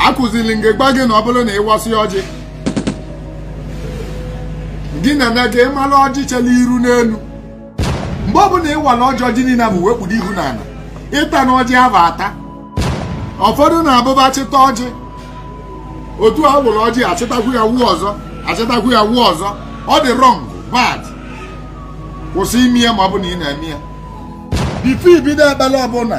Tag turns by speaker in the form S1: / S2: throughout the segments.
S1: akụziri m gị gwa gị na ọ bụrụ na ịwasị ọjị gị nene ka ịmara ọjị chela iru n'elu mgbe ọ bụla ịwala ọjị ọjị niile ahụ wee kpudo ihu n'ala ịtana ọjị ahụ ata ụfọdụ na-abụ ba chịta ọjị otu a wụrụ ọjị achịtakwu ya wụọ ọzọ achịtakwu ya wụọ ọzọ ọ dị wrong bad kwụsị ime ya ma ọ bụ na ị na-eme ya before ibido ekpere ọbụla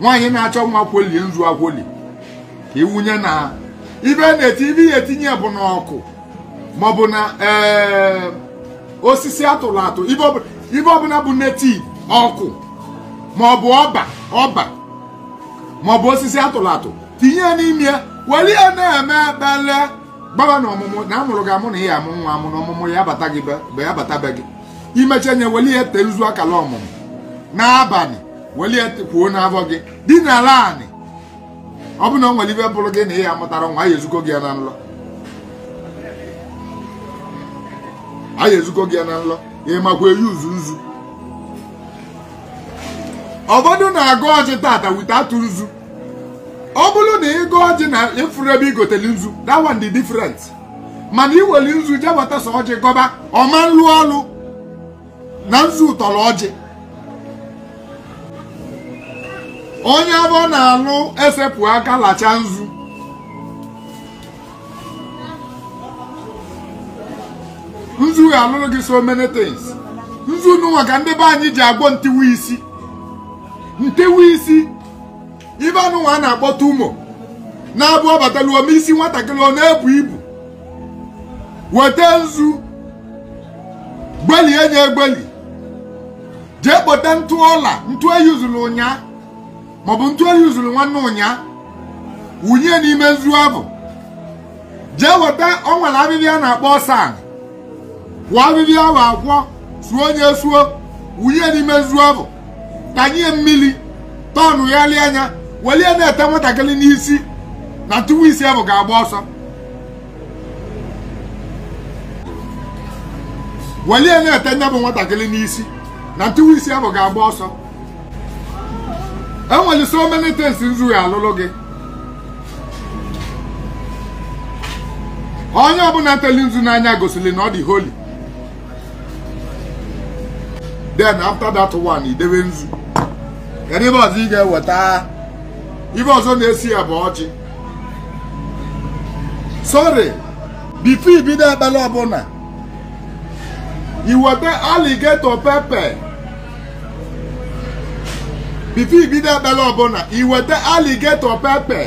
S1: nwaanyị na-achọ nwa kwolie nzu akwoli ka iwunye na ibe native ibe ị ya etinye bụ n'ọkụ maọbụ na ee osisi atụrụ atụ ibe ọbụla bụ native ọkụ maọbụ ọba ọba maọbụ osisi atụrụ atụ tinye ya n'ime ya were ya na-eme ekpele gbaba na ọmụmụ na amụrụ gị amụ na ị ya amụ nwa amụ na ọmụmụ ya abata gị be ya abata be gị imecha nye were ya tee nzu akala ọmụmụ n'abalị welie kwoo n'afọ gị dinara anị ọ bụ na ọ nwere ibe bụrụ gị na ị ya amụtara nwa a ya ezuko gị ya na nlọ a ya ezuko gị ya na nlọ ị makwa eyuzu nzu ụfọdụ na-agọ ọjị tata without nzu ọ bụrụ na ịgọ ọjị na ịfụrọ ebe igoteli nzu that one dị different mana iweli nzu jebata sọ ọjị gọba ọ ma nlụ ọlụ na nzu tọrọ ọjị onye afọ na-alụ esepụ aka lacha nzu nzu ga-alụrụ gị so many things nzu nụnwa ka ndị be anyị ji agwọ ntiwa isi ntiwa isi ibe a nụnwa a na-akpọ tumor na-abụ ọ batalu o mee isi nwatakịrị ọ na-ebu ibu weta nzu gbelie nya egbeli jee kpọta ntụ ọla ntụ eyuzuru ụnyaa maọbụ ntụ eyuzuru nwanne ụnyaa wunye n'ime nzu abụ jee weta ọ nwere abịbịa a na-akpọ ọsan kwọọ abịbịa ahụ akwọ suo nya esuo wunye n'ime nzu abụ tanye mmiri tọnụ ya lie anya welie na-ete nwatakịrị n'isi na ntiwa isi ahụ ga-agba ọsọ welie na-ete nya bụ nwatakịrị n'isi na ntiwa isi ahụ ga-agba ọsọ enwere so many things nzu ya alụlụ gị onye ọbụla teli nzu n'anya gosiri na ọ dị holy then after that one idebe nzu kedu ife ọzọ ị ga-eweta ife ọzọ na-esi ya bụ ọjị sorry before ibido ekpere ọbụla iweta alligator pepper before ibido ekpere ọbụla iweta alligator pepper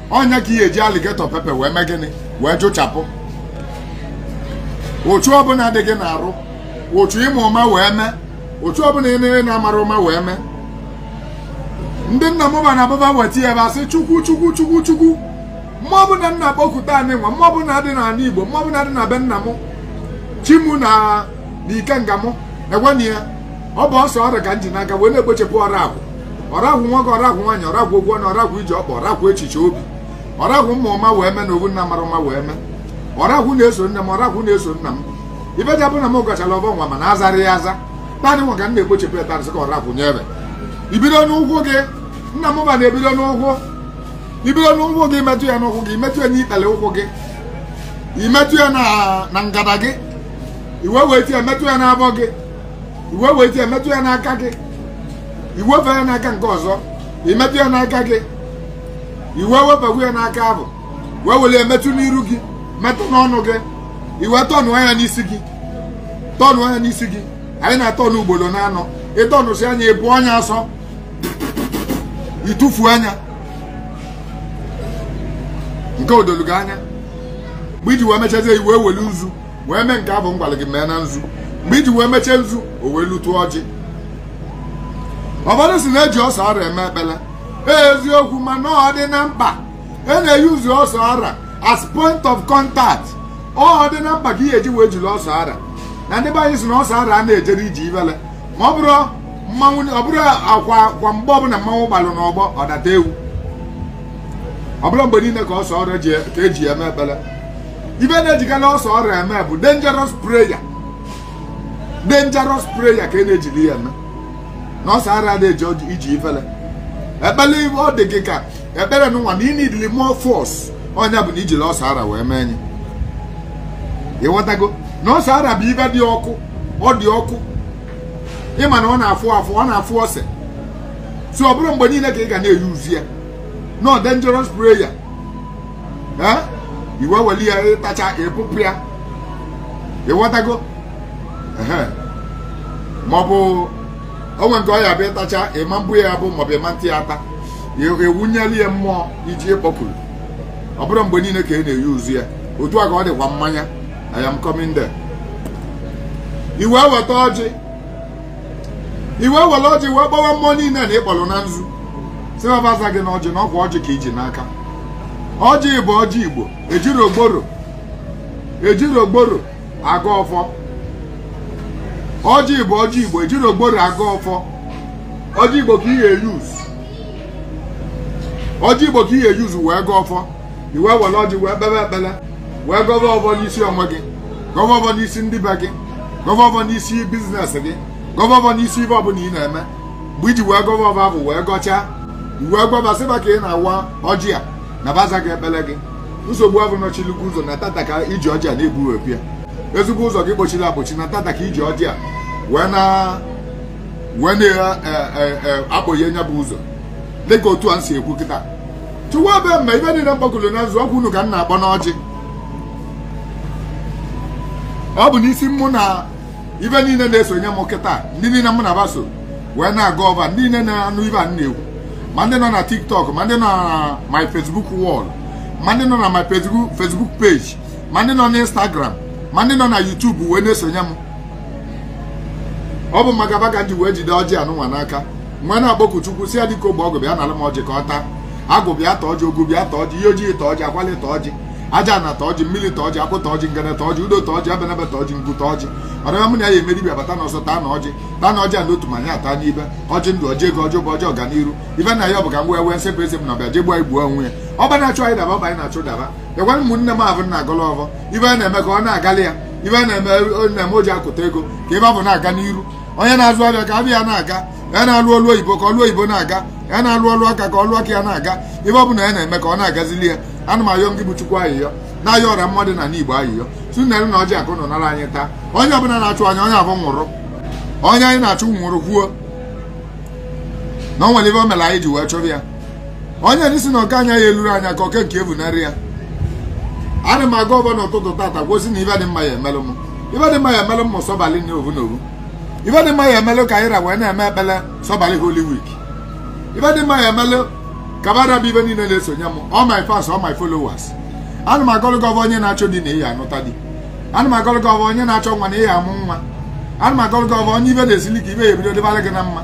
S1: ọ nya ka ị ya-eji alligator pepper wee mee gịnị wee jụchapụ uchu ọbụla dị gị n'arụ uchu ị ma ụma wee mee uchu ọbụla ị na-amarọ ụma wee mee ndị nna m fa na ababa weta ya ebe asị chukwu mmụọ ọbụla m na-akpọku taanị nwa mmụọ ọbụla dị n'ala igbo mmụọ ọbụla dị na be nna m chi m na na ikenga mụ egwana ya ọ bụ ose ọra ka m ji n'aka wee na-ekpochepụ ọrakwụ ọrakwụ nwoke ọrakwụ nwaanyị ọrakwụ okwu ọnụ ọrakwụ ije ọkpa ọrakwụ echiche obi ọrakwụ m ma ụma wee mee na owu m na-amarọ ụma wee mee ọrakwụ na-eso nne m ọrakwụ na-eso nna m ife ja-abụ na m gọchara ọfọ nwa mana azarọ ya aza taanị nwa ka m na-ekpochepụ ebe arụsị ka ọrakwụ nyere ibido n'ụkwụ gị nna m fa na-ebido n'ụkwụ ibido n'ụkwụ gị metụ ya n'ụkwụ gị imetụ ya n'ikpere ụkwụ gị imetụ ya na na ngada gị i wee weti ya metụ ya n'afọ gị i wee weti ya metụ ya n'aka gị i wefee ya n'aka nke ọzọ imetụ ya n'aka gị i wee wefekwu ya n'aka afụ wee were ya metụ n'iru gị metụ n'ọnụ gị i wee tọnụọ ya n'isi gị tọnụọ ya n'isi gị anyị na-atọnụ ugboro naanọ ị tọnụsịa nya ị bụọ nya asọ ị tụfuo nya nke o dolu gị anya mgbe iji wee mechazie i wee welu nzu wee mee nke afụ m gwalụ gị mee na nzu mgbe iji wee mechie nzu o wee lute ọjị ụfọdụ sị na-eji ose ọra eme ekpele eziokwu mana ọ dị na mkpa e na-eyuzu ose ọra as point of contact ọ dị na mkpa ka ị ya-eji wee jiri ose ọra na ndị be anyị sị na ose ọra a na-ejerọ ije ifele ma ọ bụrọ mmanwụ ọ bụrọkwa mgbe ọbụla mmanwụ gbalụ n'ọgbọ ọ data ewu ọ bụrọ mgbe niile ka ose ọra ka eji ya eme ekpere ife a na-ejikarị ose ọra eme bụ dangerous prayer dangerous prayer ka e na-ejiri ya eme na ose ọra adị eje ije ifele ekpere ife ọ dị gị ka ekpere nwa na inidili more force ọ nya bụ na ijiri ose ọra wee mee nya ịghọtago na ose ọra bụ ife dị ọkụ ọ dị ọkụ ịma na ọ na-afụ afụ ọ na-afụ ose so ọ bụrọ mgbe niile ka ị ga na-eyuzu ya no dangerous prayer ee i wee weli ya ịtacha ị bụpụ ya ịghọtago ehe maọbụ o nwee nke ọ ya-abụ ịtacha ịma mbụ ya abụ maọbụ ịma nta ya ata ewunyeli ya mmụọ iji ịkpọkuru ọ bụrọ mgbe niile ka ị na-eyuzu ya otu a ka ọ dịkwa mmanya I am coming there i wee weta ọjị i wee were ọjị wee kpọwa mmụọ niile na ị kpọrọ na nzu sị va va za gị na ọjị na ọ kwa ọjị ka i ji n'aka ọjị bụ ọjị igbo ejirọ gworo agọ ọfọ ọjị bụ ọjị igbo ejirọ gworo agọ ọfọ ọjị igbo sọ ọjị igbo ka ị ya use wee gọ ọfọ i wee were ọjị wee kpebe ekpele wee gọva ọvọ n'isi onwe gị gọva ọvọ n'isi ndị be gị gọva ọvọ n'isi business gị gọva ọvọ n'isi ive ọbụla ị na-eme mgbe i ji wee gọva ọvọ avụ wee gọchaa i wee gwa va sị va ka ị na-awa ọjị a na va za gị ekpele gị nsogbu avụ nọchilu gị ụzọ na tata ka i ji ọjị a na-egbuwepụ ya ezigbo ụzọ gị kpọchili akpọchi na tata ka i ji ọjị a wee na wee na-akpọghe nya bụ ụzọ dịka otu a m si ekwu kịta chukwu abịama ive niile m kpọkuru na nzu ọ kwa unu ka m na-akpọ n'ọjị ọ bụ n'isi mụ na ive niile na-esonye m kịta ndị niile mụ na va so wee na-agọ ọvọ ndị niile na-anụ ive a na-ekwu ma ndị nọ na tiktok ma ndị nọ na my facebook wall ma ndị nọ na my Facebook page ma ndị nọ na instagram ma ndị nọ na youtube wee na-esonye m ọ bụ maka va ka m ji wee jide ọjị anụnwa n'aka wee na-akpọku chukwu sị ya dike ogbe ọgụ bịa nara m ọjị ka ọ taa agwụ bịa ta ọjị ogu bịa ta ọjị iyi oji ta ọjị akwali ta ọjị ajana ta ọjị mmiri ta ọjị akwụ ta ọjị ngene ta ọjị udo ta ọjị ebenebe ta ọjị ngwu ta ọjị ọdịma mụ na ya emeri bịa bata n'ọsọ taanụ ọjị a n'otu ma anyị ata n'ibe ọjị ndụ ọjị ego ọjị ụba ọjị ọganiru ive na ya ọ bụ ka m wee nsepụ eze m na ọbịa je egbu anyị gbuo onwe ya ọba na-achụ anyị daba ọba anyị na-achụ daba bịakwara ụmụnne m avụ na-agọlụ ọvọ ive ọ na-eme ka ọ na-agalị ya ive ọ na-eme o ji akụta ego ka ive avụ na-aga n'iru onye na-azụ avịa ka avịa ya na-aga onye na-alụ ọlụ oyibo ka ọlụ oyibo na-aga onye na-alụ ọlụ aka ka ọlụ aka ya na-aga ive ọ bụla ya na-eme ka ọ na-agazili ya ana m ayọ gị bụ chukwu ayịyọ na-ayọ ọra mmadụ na n'igbo ayịyọ sị unu welu na ọjị a ka unu nara anyị taa onye ọbụla na-achụ anyị onye avụ nwụrụ onye anyị na-achụ nwụrụ kwuo na o nwere ive o mere anyị ji wee chọrọ ya onye ndị sị na oke anyị ya elurọ anyị aka oke nke ya evunarị ya ana m agọ ọvọ n'ụtụtụ tata gọ sị na ive dị mma ya emelụ m ive dị mma ya emelụ ụmụ sọbalị na ovu na ovu ive dị mma ya emelụ ka anyị ra wee na-eme ekpele sọbalị holy week ive dị mma ya emelụ ka va ra bụ ive niile na-esonye m all my fans all my followers ana m agọlụ gị ọvọ onye na-achọ di na ị ya anụta di ana m agọlụ gị ọvọ onye na-achọ nwa na ị ya amụ nwa ana m agọlụ gị ọvọ onye ive na-esili ike ive ya ebido dịbara gị na mma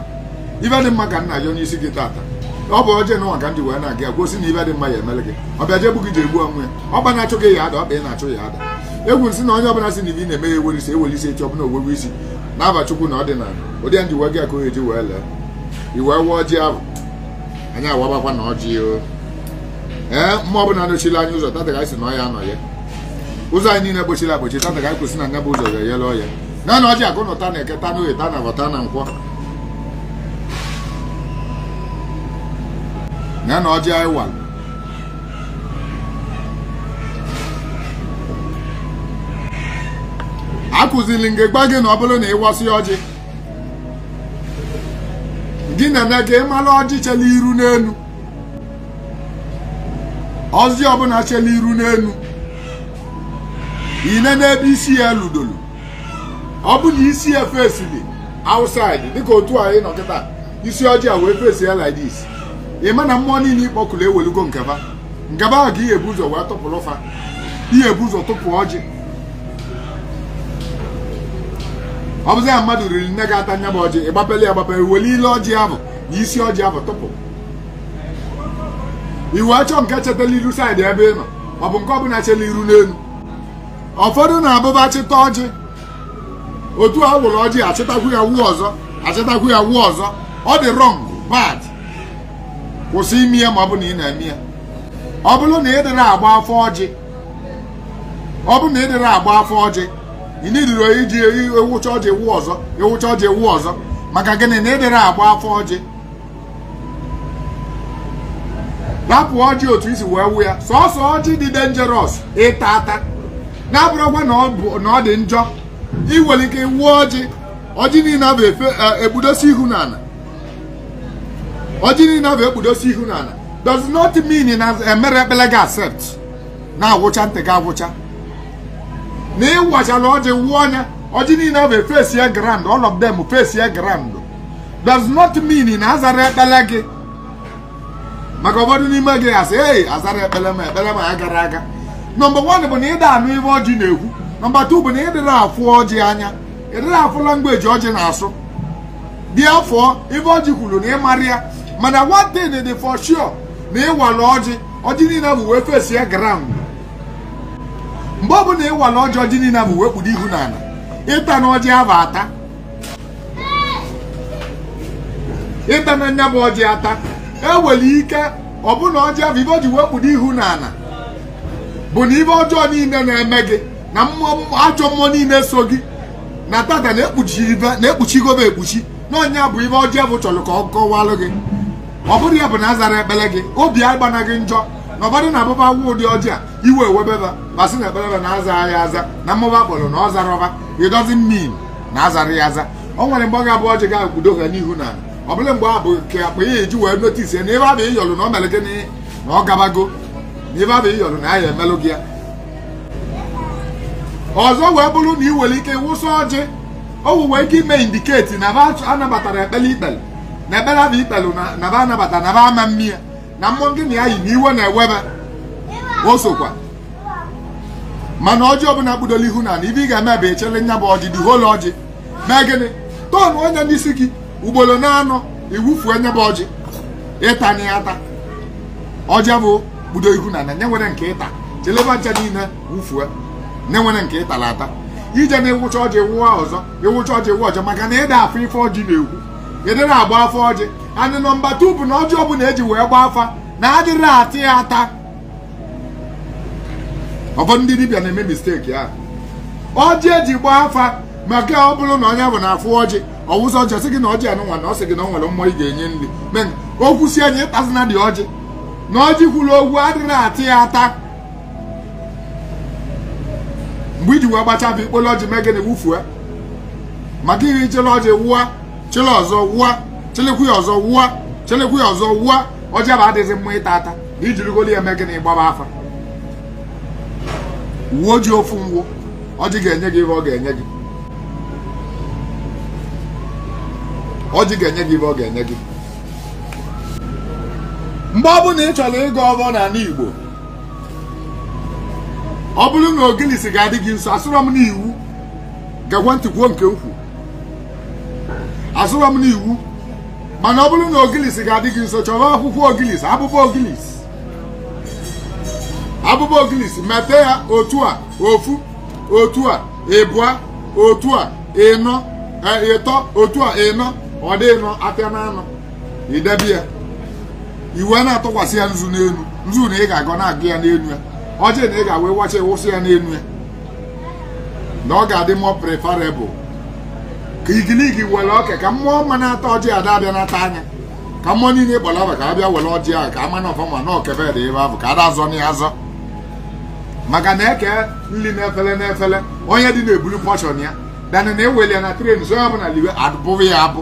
S1: ive dị mma ka m na-ayọ n'isi gị tata ọ bụ ọjị anụnwa ka m ji wee na-agọ ya gọ sị na ive dị mma ya emelụ gị ọbịa je egbu gị je egbu onwe ya ọba na-achụ gị ya ada ọba ị na-achụ ya ada egwu nsị na onye ọbụla si na ife na-eme ya ewere isi ewere isi echi ọbụla ogwegwe isi n'afa chukwu na ọdịnala ụdị ya ndị uwe gị aka ohe ji wee lee iwe wụọ ọjị ahụ anyị awabakwa na ọjị o ee mmụọ ọbụla anọchila anyị ụzọ tata ka anyị si na ọya anọ ya ụzọ anyị niile gbochiri agbochi tata ka anyị kwụsị na nya bụ ụzọ ga-eyele oye na na ọjị akụ na ụta n'eke ta n'oye ta n'afọ ta na nkwọ na na ọjị anyị wara akụziri m gị gwa gị na ọ bụrụ na ị wasịa ọjị gị na-eme ka ị mara ọjị chela iru n'elu ọjị ọbụla chela iru n'elu i nee n'ebe isi ya ludoro ọ bụ na isi ya fesili outside dịka otu anyị nọ kịta isi ọjị a wee fesi ya like this ị ma na mmụọ niile ị kpọkuru ewelugo nke fa nke fa ahụ ka i ya-ebu ụzọ wee tụpụrụ fa i ya-ebu ụzọ tụpụ ọjị ọ bụzi ya mmadụ riri nne ga-ata nya bụ ọjị ị gbapele ya agbape i wele ile ọjị ahụ na isi ọjị ahụ tụpụ i wee chọọ nke chetala iru side ebe ị nọ ọ bụ nke ọbụla chela iru n'elu ụfọdụ na-abụ fa chịta ọjị otu a wụrụ ọjị achịtakwu ya wụọ ọzọ achịtakwu ya wụọ ọzọ ọ dị wrong bad kwụsị ime ya ma ọ bụ na ị na-eme ya ọ bụrụ na ị dịrọ agba afa ọjị ọ bụrụ na ị dịrọ agba afa ọjị ị nidiro iji awụcha ọjị awụọ ọzọ awụcha ọjị awụọ ọzọ maka gịnị na ị dịrọ agba afa ọjị rapụ ọjị otu i si wee wụọ ya sọsọ ọjị dị dangerous ịta ata na abụrọkwa na ọ dị njọ ị nwere ike ịwụ ọjị ọjị niile ahụ e, ekpudosi ihu n'ala ọjị niile ahụ ekpudosi ihu n'ala does not mean na emere ekpele gị accept na-awụcha ntị gị awụcha na ị wachala ọjị wụọ ya ọjị niile ahụ efesi ya ground all of them face ya ground does not mean na azara ekpele gị maka ụfọdụ n'ime ga-asị ee azara ekpele m ekpele m ya gara aga number one bụ na ị da anụ ife ọjị na-ekwu number two bụ na ị dịrọ afụ ọjị anya ị dịrọ asụ language ọjị na-asụ therefore ife ọjị kwuru na ị marọ ya mana one thing dị for sure na ịwala ọjị ọjị niile ahụ wee fesi ya ground mgbe ọ bụla ịwala ọjị ọjị niile ahụ wee kpudo ihu n'ala ị tana ọjị ahụ ata ị tana nya bụ ọjị ata e nwere ike ọ bụ na ọjị ahụ ife o ji wee kpudo ihu n'ala bụ na ife ọjọọ niile na-eme gị na mmụọ ajọ mmụọ niile so gị na tata na ekpuchigo fa ekpuchi na ọ nya bụ ife ọjị ahụ chọrọ ka ọ kọwalụ gị ọ bụrụ ya bụ na azara ekpere gị obi agbana gị njọ na ụfọdụ na-abụ fa wụọ ụdị ọjị a iwe ewebe ba ba sị na ekpere ba na aza ya aza na mmụọ ba kpọrọ na ọ zarọ ba it doesn't mean na azarọ ya aza o nwere mgbe ọ ga-abụ ọjị ga-ekpudocha ihu n'ana ọ bụrụ mgbe abụ ka akpa ya eji wee notisi ya na ebe abụ ị yọlụ na ọ mere gịnị na ọ gabago na ebe abụ ị yọlụ na ya emelụ gị ya ọzọ wee bụrụ na ị nwere ike wụsa ọjị o nwere ike ime indiketi na ba anabatarọ ekpere i kpere na ekpere abụ i kpere na ba anabata na ba ama mmiri na mmụọ gị na ya yi na iwe na-ewe ba o sokwa mana ọjị ọbụla kpudolu ihu n'ana ife ị ga-eme bụ i chele nya bụ ọjị dị holu ọjị mee gịnị tọnụọ ya n'isi gị ugboro na-anọ i wufuo nya bụ ọjị ị tana ya ata ọjị bụ kpudo ihu n'ana nye nwere nke ịta chele ba ncha niile wufue nye nwere nke ịtara ata ije na ịwụcha ọjị wụọ ọzọ ịwụcha ọjị wụọ ọzọ maka na ị da afụ ife ọjị na-ekwu ị dịrị agba afa ọjị and nọmba tu bụ na ọjị ọbụla eji wee gba afa na adịrọ ata ya ata ụfọdụ ndị dibịa na-eme misteki ahụ ọjị eji gba afa maka ọ bụrụ na onye bụ na afụ ọjị ọ wụsa ọjị ọ sị gị na ọjị anụnwa na ọ sị gị na ọ nwere mmụọ ị ga-enye nri men o kwusie nya ị tazina dị ọjị na ọjị kwuru okwu adịrọ ata ya ata mgbe i ji wee gbacha bụ ikpolo ọjị mee gịnị wufue maka ihe chele ọjị wụwa chele ọzọ wụwa chelekwu ya ọzọ wụwa chelekwu ya ọzọ wụwa ọjị bụ adịghị mma ịta ata na i jirigolu ya mee gịnị gbaba afa wuo ji ofu ngwụ ọjị ga-enye gị ihe ọ ga-enye gị ọjị ga-enye gị ihe ọ ga-enye gị mgbe ọ bụla ị chọrọ ịgọ ọfọ n'ala Igbo ọ bụrụ na ogilisi ga-adị gị nso asịrọ m na iwu geekwa ntị kwuo nke ukwu asịrọ m na iwu mana ọ bụrụ na ogilisi ga-adị gị nso chọrọ akwụkwọ ogilisi abụba ogilisi abụba ogilisi mete ya otu a ofu otu a ịbụa otu a ịnọ ịtọ otu a ịnọ ọ dị ịnọ apịa na anọ i debe ya i wee na-atụkwasị ya nzu n'elu nzu na ị ga-agọ na-agụ ya n'elu ya ọjị na ị ga-awa wacha ị wụsa ya n'elu ya na ọ ga-adị more preferable ka igiligi were ọka ka mmụọ mma na-ata ọjị ada abịa nata anya ka mmụọ niile ị kpọrọ afa ka abịa were ọjị ahụ ka ama na ọfụma na oke ba dị ebe ahụ ka ada azọ na ya azọ maka na eke nri n'efere n'efere onye dị na-ebulu pọshọn ya than na eweli ya na tray so ya bụ na liwe abụghị ya abụ